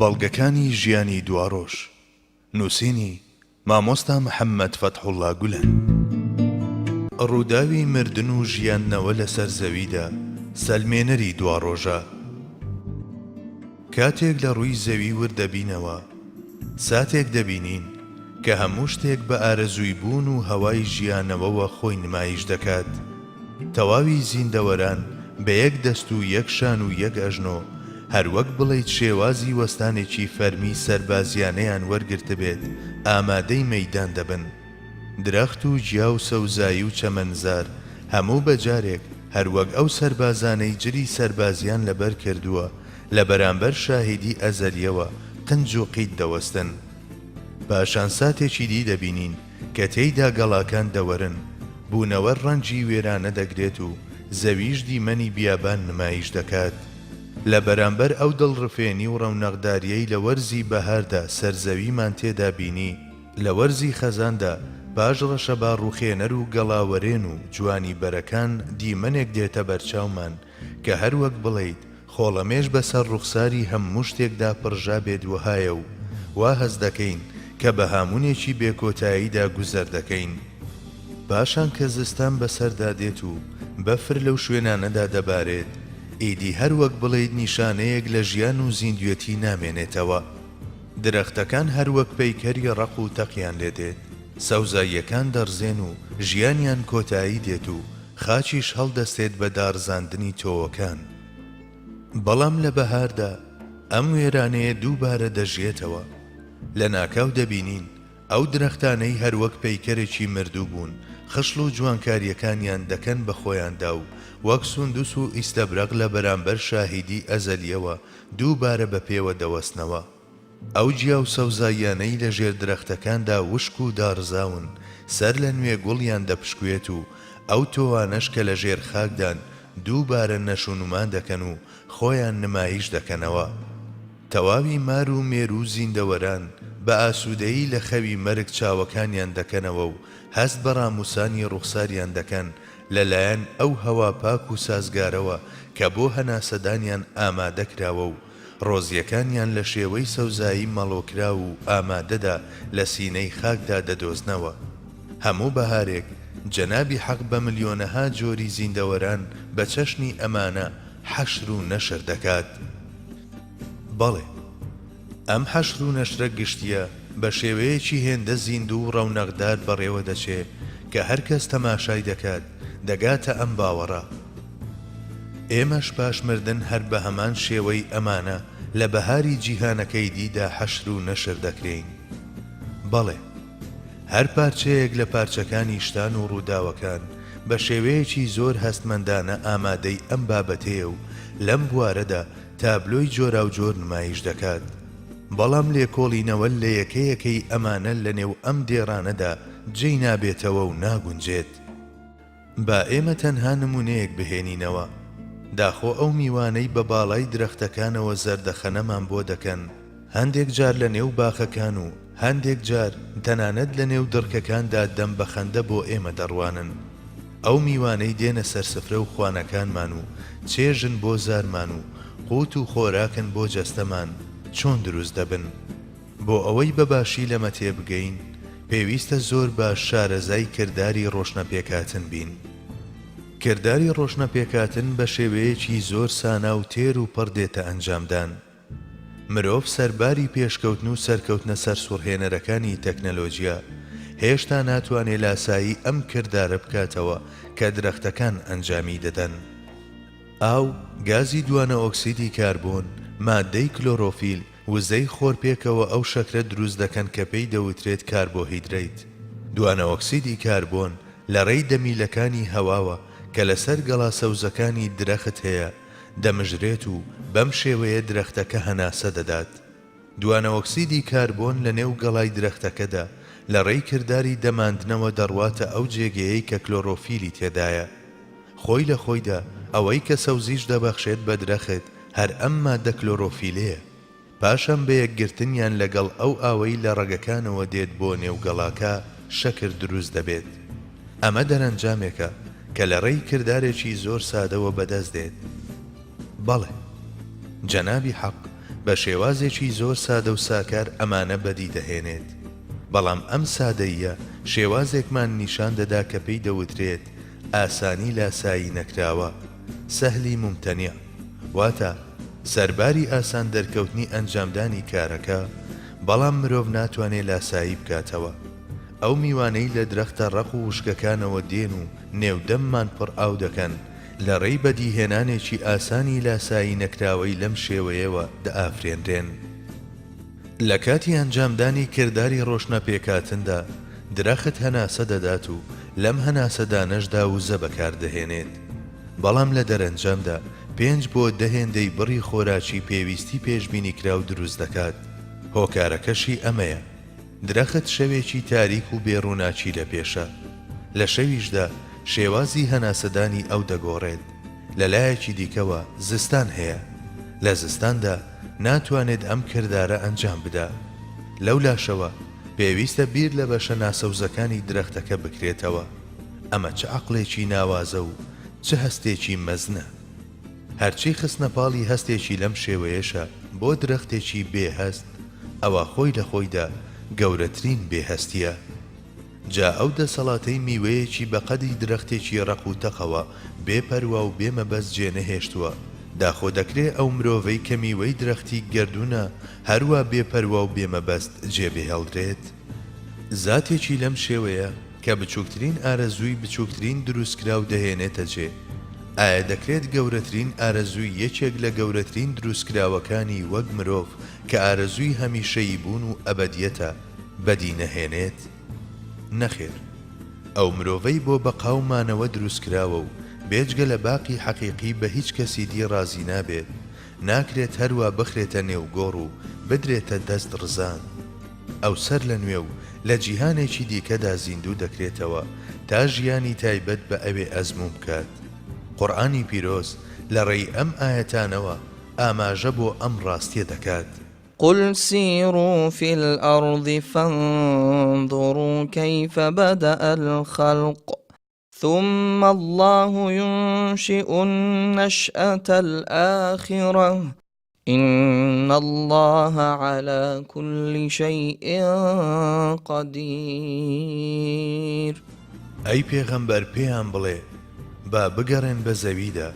بەڵگەکانی ژیانی دواڕۆژ، نووسینی، مامۆستا محەممەد فەتحوڵڵا گولەن. ڕووداوی مردن و ژیاندنەوە لەسەر زەویدا سەلمێنەری دواڕۆژە. کاتێک لە ڕووی زەوی ورد دەبینەوە، ساتێک دەبینین کە هەموو شتێک بە ئارەزووی بوون و هەوای ژیانەوەوە خۆی نمایش دەکات تەواوی زیندەوەران بە یەک دەست و یەک شان و یەک ئەژنۆ، هەر وەک بڵێیت شێوازی وەستانێکی فەرمی سەربازیانەیان وەرگرتبێت، ئامادەی مەیدان دەبن. درەخت و گیا و سەوزایی و چەمەنزار، هەموو بە جارێک، هەر وەک ئەو سەربازانەی جلی سەربازیان لەبەر کردووە، لە بەرامبەر شاهیدی ئەزەلییەوە قنج و قیت دەوەستن. پاشان ساتێکی دی دەبینین، کە تێیدا گەڵاکان دەوەرن، بوونەوەر ڕەنجی وێرانە دەگرێت و زەویش دیمەنی بیابان نمایش دەکات. لە بەرامبەر ئەو دڵڕفێنی و ڕەونەقدارییەی لە وەرزی بەهاردا سەرزەویمان تێدا بینی، لە وەرزی خەزاندا پاش ڕەشەبا ڕووخێنەر و گەڵاوەرێن و جوانی بەرەکان دیمەنێک دێتە بەرچاومان کە هەر وەک بڵێیت خۆڵەمێش بە سەر ڕوخساری هە موو شتێکدا پڕژا بێت وەهایە و وا هەست دەکەین کە بە هامونێکی بێ کۆتاییدا گوزەر دەکەین پاشان کە زستان بە سەردا دێت و بە فر لەو شوێنانەدا دەبارێت ئیدی هەر وەک بڵێیت نیشانەیەک لە ژیان و زیندوێتی نامێنێتەوە درەختەکان هەر وەک پەیکەری ڕەق و تەقیان لێ دێت سەوزاییەکان دەڕزێن و ژیانیان کۆتایی دێت و خاچیش هەڵدەستێت بە داڕزاندنی تۆوەکان. بەڵام لە بەهاردا ئەم وێرانەیە دووبارە دەژیێتەوە. لەناکاو دەبینین ئەو درەختانەی هەروەک پەیکەرێکی مردوو بوون، خشڵ و جوانکارییەکانیان دەکەن بە خۆیاندا و وەک سوندوس و ئیستەبرەق لە بەرامبەر شاهیدی ئەزەلییەوە دووبارە بە پێوە دەوەستنەوە. ئەو گیا و سەوزاییانەی لە ژێر درەختەکاندا وشک و داڕزاون، سەر لە نوێ گوڵیان دەپشکوێت و ئەو تۆوانەش کە لە ژێر خاکدان دووبارە نەشونما دەکەن و خۆیان نمایش دەکەنەوە. تەواوی مار و مێرو و زیندەوەران بە ئاسوودەیی لە خەوی مەرگ چاوەکانیان دەکەنەوە و هەست بە ڕاموسانی ڕوخساریان دەکەن لە لایەن ئەو هەوا پاک و سازگارەوە کە بۆ هەناسەدانیان ئامادە کراوە و ڕۆزییەکانیان لە شێوەی سەوزایی مەڵۆکراو و ئامادەدا لە سینەی خاکدا دەدۆزنەوە. هەموو بەهارێک جەنابی حەق بە ملیۆنەها جۆری زیندەوەران بە چەشنی ئەمانە حەشر و نەشر دەکات. بەڵێ، ئەم حەشر و نەشرە گشتییە بە شێوەیەکی هێندە زیندوو و ڕەونەقدار بەڕێوە دەچێ کە هەر کەس تەماشای دەکات، دەگاتە ئەم باوەڕە، ئێمەش پاش مردن هەر بە هەمان شێوەی ئەمانە لە بەهاری جیهانەکەی دیدا حەشر و نەشر دەکرێین؟ بەڵێ. هەر پارچەیەک لە پارچەکانی شتان و ڕووداوەکان بە شێوەیەکی زۆر هەستمەندانە ئامادەی ئەم بابەتەیە و لەم بوارەدا تابلۆی جۆراوجۆر نمایش دەکات، بەڵام لێکۆڵینەوە لە یەکە یەکەی ئەمانە لەنێو ئەم دێڕانەدا جێی نابێتەوە و ناگونجێت. با ئێمە تەنها نموونەیەک بهێنینەوە، داخۆ ئەو میوانەی بە باڵای درەختەکانەوە زەردەخەنەمان بۆ دەکەن، هەندێک جار لە نێو باخەکان و هەندێک جار تەنانەت لە نێو دڕکەکاندا دەم بە خەندە بۆ ئێمە دەڕوانن، ئەو میوانەی دێنە سەر سفرە و خوانەکانمان و چێژن بۆ زارمان و قووت و خۆراکن بۆ جەستەمان، چۆن دروست دەبن؟ بۆ ئەوەی بە باشی لەمە تێبگەین، پێویستە زۆر باش شارەزای کرداری ڕۆشنەپێکهاتن بین. کرداری ڕۆشنەپێکهاتن بە شێوەیەکی زۆر سانا و تێر و پڕ دێتە ئەنجامدان. مرۆڤ سەرباری پێشکەوتن و سەرکەوتنە سەرسوڕهێنەرەکانی تەکنەلۆجیا، هێشتا ناتوانێ لاسایی ئەم کردارە بکاتەوە کە درەختەکان ئەنجامی دەدەن. ئاو، گازی دوانە ئۆکسیدی کاربۆن، ماددەی کلۆرۆفیل، وزەی خۆرپێکەوە ئەو شەکرە دروست دەکەن کە پێی دەوترێت کاربۆهیدرەیت. دوانەئۆکسیدی کاربۆن لە ڕێی دەمیلەکانی هەواوە کە لەسەر گەڵا سەوزەکانی درەخت هەیە دەمژرێت و بەم شێوەیە درەختەکە هەناسە دەدات. دوانەئۆکسیدی کاربۆن لە نێو گەڵای درەختەکەدا لە ڕێی کرداری دەماندنەوە دەڕواتە ئەو جێگەیەی کە کلۆرۆفیلی تێدایە. خۆی لە خۆیدا ئەوەی کە سەوزیش دەبەخشێت بە درەخت هەر ئەم ماددە کلۆرۆفیلەیە، پاشان بە یەکگرتنیان لەگەڵ ئەو ئاوەی لە ڕەگەکانەوە دێت بۆ نێو گەڵاکە شەکر دروست دەبێت. ئەمە دەرەنجامێکە کە لە ڕێی کردارێکی زۆر سادەوە بەدەست دێت. بەڵێ. جەنابی حەق بە شێوازێکی زۆر سادە و ساکار ئەمانە بەدی دەهێنێت. بەڵام ئەم سادەییە شێوازێکمان نیشان دەدا کە پێی دەوترێت، ئاسانی لاسایی نەکراوە، سهلی ممتنع، واتا سەرباری ئاسان دەرکەوتنی ئەنجامدانی کارەکە، بەڵام مرۆڤ ناتوانێ لاسایی بکاتەوە. ئەو میوانەی لە درەختە ڕەق و وشکەکانەوە دێن و نێو دەممان پڕ ئاو دەکەن، لە ڕێی بەدیهێنانێکی ئاسانی لاسایی نەکراوەی لەم شێوەیەوە دەئافرێنرێن. لە کاتی ئەنجامدانی کرداری ڕۆشنەپێکاتندا، درەخت هەناسە دەدات و لەم هەناسەدانەشدا وزە بەکاردەهێنێت. بەڵام لە دەرەنجامدا پێنج بۆ دە هێندەی بڕی خۆراکی پێویستی پێشبینیکراو دروست دەکات، هۆکارەکەشی ئەمەیە. درەخت شەوێکی تاریک و بێ ڕووناکی لە پێشە. لە شەویشدا شێوازی هەناسەدانی ئەو دەگۆڕێت. لە لایەکی دیکەوە زستان هەیە. لە زستاندا ناتوانێت ئەم کردارە ئەنجام بدا. لەو لاشەوە پێویستە بیر لە بەشە ناسەوزەکانی درەختەکە بکرێتەوە. ئەمە چ عەقڵێکی ناوازە و چ هەستێکی مەزنە! هەرچی خستنە پاڵی هەستێکی لەم شێوەیەشە بۆ درەختێکی بێ هەست، ئەوا خۆی لە خۆیدا گەورەترین بێ هەستییە. جا ئەو دەسەڵاتەی میوەیەکی بە قەدی درەختێکی ڕەق و تەقەوە بێ پەروا و بێ مەبەست جێ نەهێشتووە، داخۆ دەکرێ ئەو مرۆڤەی کە میوەی درەختی گەردوونە هەروا بێ پەروا و بێ مەبەست جێ بهێڵدرێت؟ زاتێکی لەم شێوەیە کە بچووکترین ئارەزووی بچووکترین دروستکراو دەهێنێتە جێ، ئایا دەکرێت گەورەترین ئارەزووی یەکێک لە گەورەترین دروستکراوەکانی وەک مرۆڤ کە ئارەزووی هەمیشەیی بوون و ئەبەدییەتە، بەدی نەهێنێت؟ نەخێر. ئەو مرۆڤەی بۆ بەقا و مانەوە دروستکراوە و بێجگە لە باقی حەقیقی بە هیچ کەسی دی ڕازی نابێت، ناکرێت هەروا بخرێتە نێو گۆڕ و بدرێتە دەست ڕزان. ئەو سەر لە نوێ و لە جیهانێکی دیکەدا زیندوو دەکرێتەوە تا ژیانی تایبەت بە ئەوێ ئەزموون بکات. قورئانی پیرۆز لە ڕێی ئەم ئایەتانەوە ئاماژە بۆ ئەم ڕاستیە دەکات. قل سیروا فی الارض فانظروا کیف بدء الخلق. ثم اللە ینشیء النشأة الآخرە ان اللە علی کل شیء قدیر. ئەی پێغەمبەر پێیان بڵێ، با بگەڕێن بە زەویدا،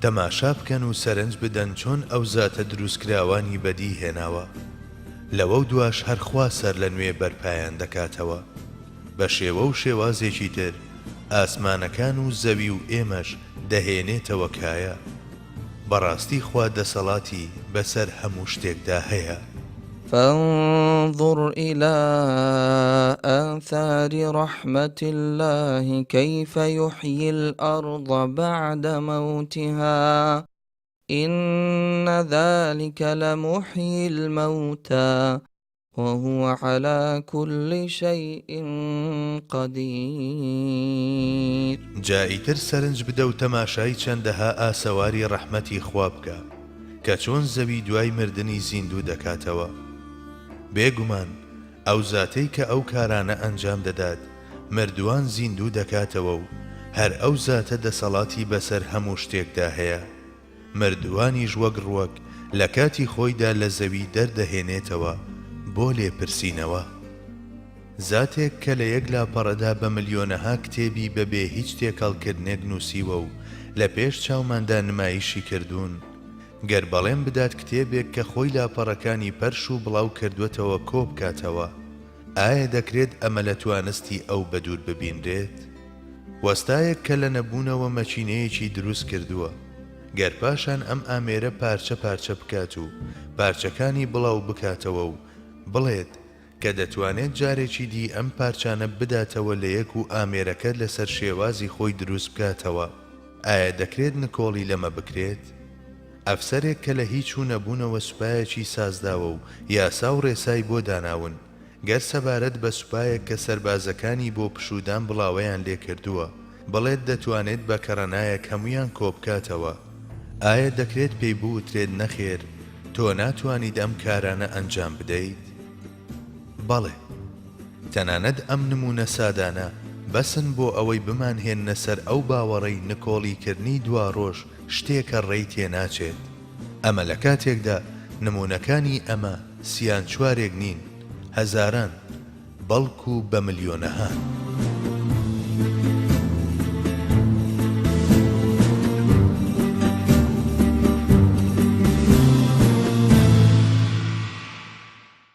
تەماشا بکەن و سەرنج بدەن چۆن ئەو زاتە دروستکراوانی بەدی هێناوە، لەوەو دواش هەر خوا سەرلەنوێ بەرپایان دەکاتەوە. بە شێوە و شێوازێکی تر ئاسمانەکان و زەوی و ئێمەش دەهێنێتەوە کایە. بەڕاستی خوا دەسەڵاتی بەسەر هەموو شتێکدا هەیە. فانظر الی آثار رحمت الله کیف یحیی الارض بعد موتها ان ذلک لمحیی الموتی وهو علی کل شیء قدیر. جا ئیتر سەرنج بدە و تەماشای چەندەها ئاسەواری ڕەحمەتی خوا بکە کە چۆن زەوی دوای مردنی زیندوو دەکاتەوە. بێگومان ئەو زاتەی کە ئەو کارانە ئەنجام دەدات مردووان زیندوو دەکاتەوە و هەر ئەو زاتە دەسەڵاتی بەسەر هەموو شتێکدا هەیە. مردووانیش وەک ڕووەک لە کاتی خۆیدا لە زەوی دەردەهێنێتەوە بۆ لێپرسینەوە. زاتێک کە لە یەک لاپەڕەدا بە ملیۆنەها کتێبی بە بێ هیچ تێکەڵکردنێک نووسیوە و لە پێش چاوماندا نمایشی کردوون، گەر بەڵێن بدات کتێبێک کە خۆی لاپەڕەکانی پەرش و بڵاو کردووەتەوە کۆ بکاتەوە، ئایا دەکرێت ئەمە لە توانستی ئەو بەدوور ببینرێت؟ وەستایەک کە لە نەبوونەوە مەکینەیەکی دروست کردووە، گەر پاشان ئەم ئامێرە پارچە پارچە بکات و پارچەکانی بڵاو بکاتەوە و بڵێت کە دەتوانێت جارێکی دی ئەم پارچانە بداتەوە لە یەک و ئامێرەکە لەسەر شێوازی خۆی دروست بکاتەوە، ئایا دەکرێت نکۆڵی لەمە بکرێت؟ ئەفسەرێک کە لە هیچ و نەبوونەوە سوپایەکی سازداوە و یاسا و ڕێسای بۆ داناون، گەر سەبارەت بە سوپایەک کە سەربازەکانی بۆ پشوودان بڵاوەیان لێ کردووە، بڵێت دەتوانێت بە کەڕەنایەک هەموویان کۆبکاتەوە، ئایا دەکرێت پێی بوترێت نەخێر، تۆ ناتوانیت ئەم کارانە ئەنجام بدەیت؟ بەڵێ. تەنانەت ئەم نموونە سادانە بەسن بۆ ئەوەی بمانهێننە سەر ئەو باوەڕەی نکۆڵیکردنی دواڕۆژ شتێکە ڕێی تێناچێت ئەمە لە کاتێکدا نموونەکانی ئەمە سیان چوارێک نین هەزاران بەڵکو بە ملیۆنەهان.